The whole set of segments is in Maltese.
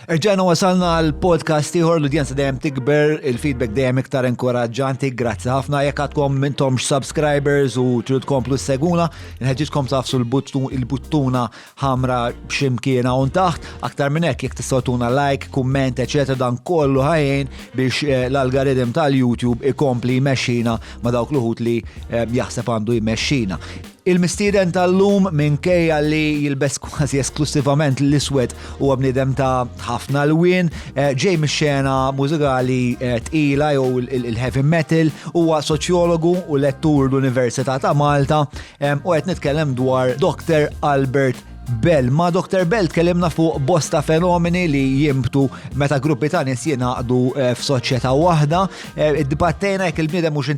Erġajna wasalna għal podcast ieħor l-udjenza dejjem tikber, il-feedback dejjem iktar inkoraġġanti, grazzi ħafna jekk għadkom mintom subscribers u trid tkomplu seguna, nħeġġitkom tafsu l-buttuna ħamra ximkiena un taħt, aktar minn hekk jekk tistgħu tuna like, kumment, eċetera dan kollu ħajjin biex eh, l-algoritm tal-YouTube ikompli jmexxina ma dawk l-uħut li eh, jaħseb għandu jmexxina. Il-mistieden tal-lum minkejja li jilbes kważi esklussivament l-iswed huwa bniedem ta' ħafna lwien, eh, ġej mix-xena mużikali eh, tqila jew il-heavy metal, huwa soċjologu u lettur l-Università ta' Malta eh, u qed nitkellem dwar Dr. Albert Bell. Ma Dr. Bell tkellimna fuq bosta fenomeni li jimbtu meta gruppi ta' nis jinaqdu eh, f'soċjetà waħda. Eh, Dibattejna jekk il-bniedem mhux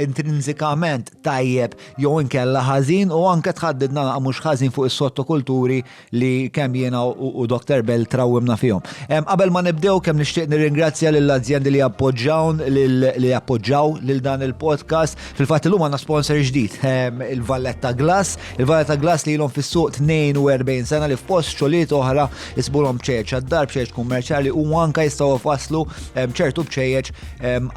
intrinsikament tajjeb jew inkella ħażin u anke tħaddid nagħlaq mhux ħażin fuq is-sottokulturi li kemm jiena u Dr. Bell trawwimna fihom. Qabel ma nibdew kemm nixtieq nirringrazzja lill azjendi li appoġġawn li appoġġaw lil dan il-podcast. Fil-fatt illum għandna sponsor ġdid, il-Valletta Glass. Il-Valletta Glass li ilhom fis-suq 42 sena li f'post xogħliet oħra isbulhom bċejjeġ għad-dar, bċejjeġ kummerċjali u anke jistgħu faslu ċertu bċejjeġ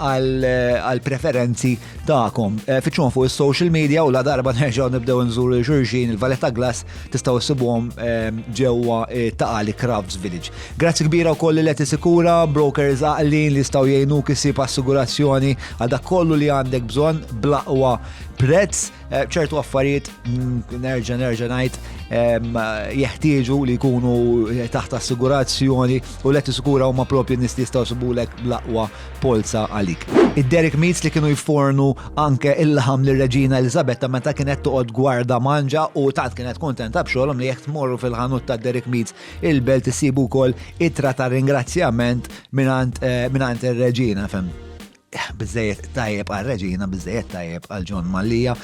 għal preferenzi tagħkom. Eh, Fiċċuhom fuq is-social media u la darba nerġgħu nibdew nżuru xulxin il-Valletta Glass tistgħu ssibuhom eh, ġewwa eh, Taqali Crafts Village. Grazzi kbira wkoll li qed sikura brokers għaqlin li jistgħu jgħinuk isib assigurazzjoni għal dak kollu li għandek bżonn blaqwa prezz ċertu affarijiet mm, nerġa' nerġa' ngħid jeħtieġu li jkunu taħt assigurazzjoni u let iskura huma propju nies li jistgħu subulek bl-aqwa polza għalik. Id-Dairy Meats li kienu jfornu anke il-laħam lir-Reġina Eliżabetta meta kienet toqgħod gwarda manġa u tant kienet kuntenta b'xogħolhom li jekk tmorru fil-ħanut tad-Dairy Meats il-Belt issibu wkoll ittra ta' ringrazzjament mingħand ir-Reġina, fehm. Biżżejjed tajjeb għar-Reġina, biżżejjed tajjeb għal John Mallia.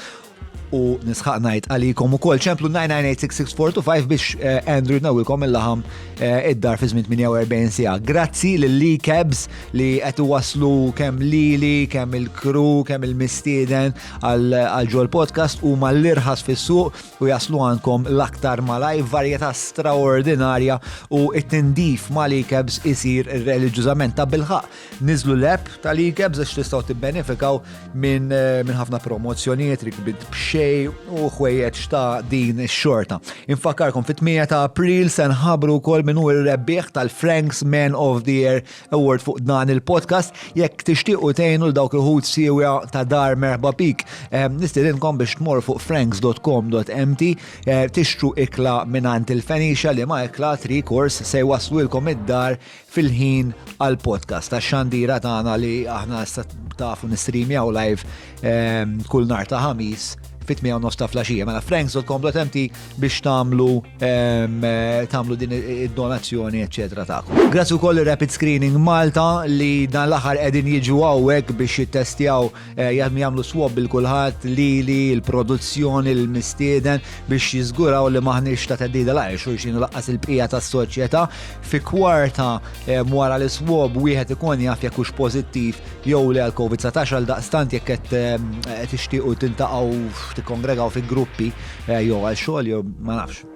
u nisħaq najt għalikom u kol ċemplu 9986645 biex eh, Andrew nawilkom il-laħam eh, id-dar fi żmien 48 sija. Grazzi lil-li Cabs li qed waslu kemm lili, kemm il-kru, kemm il-mistieden għal ġol podcast u mal-irħas fis-suq u jaslu għandkom l-aktar malaj varjetà straordinarja u it-tindif ma' li Cabs isir reliġjużament ta' bilħaq Niżlu l-app tal-ikebs għax tistgħu tibbenefikaw minn min ħafna promozzjonijiet, rikbit b'xej u ħwejjeġ ta' din ix-xorta. Infakarkom fit-8 ta' April se nħabru wkoll minn hu r-rebbieħ tal-Franks Man of the Year Award fuq dan il-podcast jekk tixtiequ tgħinu l dawk il-ħut siewja ta' dar merħba pik. Eh, Nistidinkom biex tmor fuq franks.com.mt eh, tixtru ikla minn il-Fenixa li ma ikla tri kors se jwaslulkom id-dar fil-ħin għal podcast ta' xandira tagħna li aħna issa tafu nistreamjaw live ehm, kull nar ta' ħamis fit u nofs ta' flaxija. Mela franks.com.mt biex tamlu ehm, tamlu din id-donazzjoni, eccetera ta' Grazzi wkoll Rapid Screening Malta li dan l-aħħar qegħdin jiġu hawnhekk biex jittestjaw Eh, jgħadmu jagħmlu swab bil kulħadd lili, il-produzzjoni, il-mistieden biex jiżguraw li maħniex ta' teddida la' xulxin laqqas il-bqija tas-soċjetà. Fi kwarta eh, wara li swab wieħed ikun jaf jekk hux pożittiv jew li għal COVID-19 għal daqstant jekk qed eh, tixtiequ tintaqgħu tikkongregaw fi gruppi jew għal xogħol jew ma nafx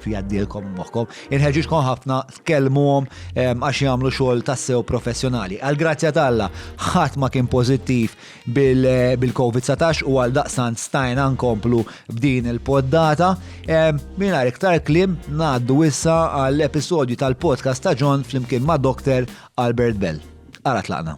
jaddilkom moħħkom. Inħeġġiġkom ħafna tkellmuhom ehm, għax jagħmlu xogħol tassew professjonali. Għal grazzja t'Alla, ħadd ma kien pożittiv bil-COVID-19 u għal daqsan stajna nkomplu b'din il-poddata. Ehm, mingħajr iktar klim ngħaddu issa għall-episodju tal-podcast ta' John flimkien ma' Dr. Albert Bell. Ara tlaqna.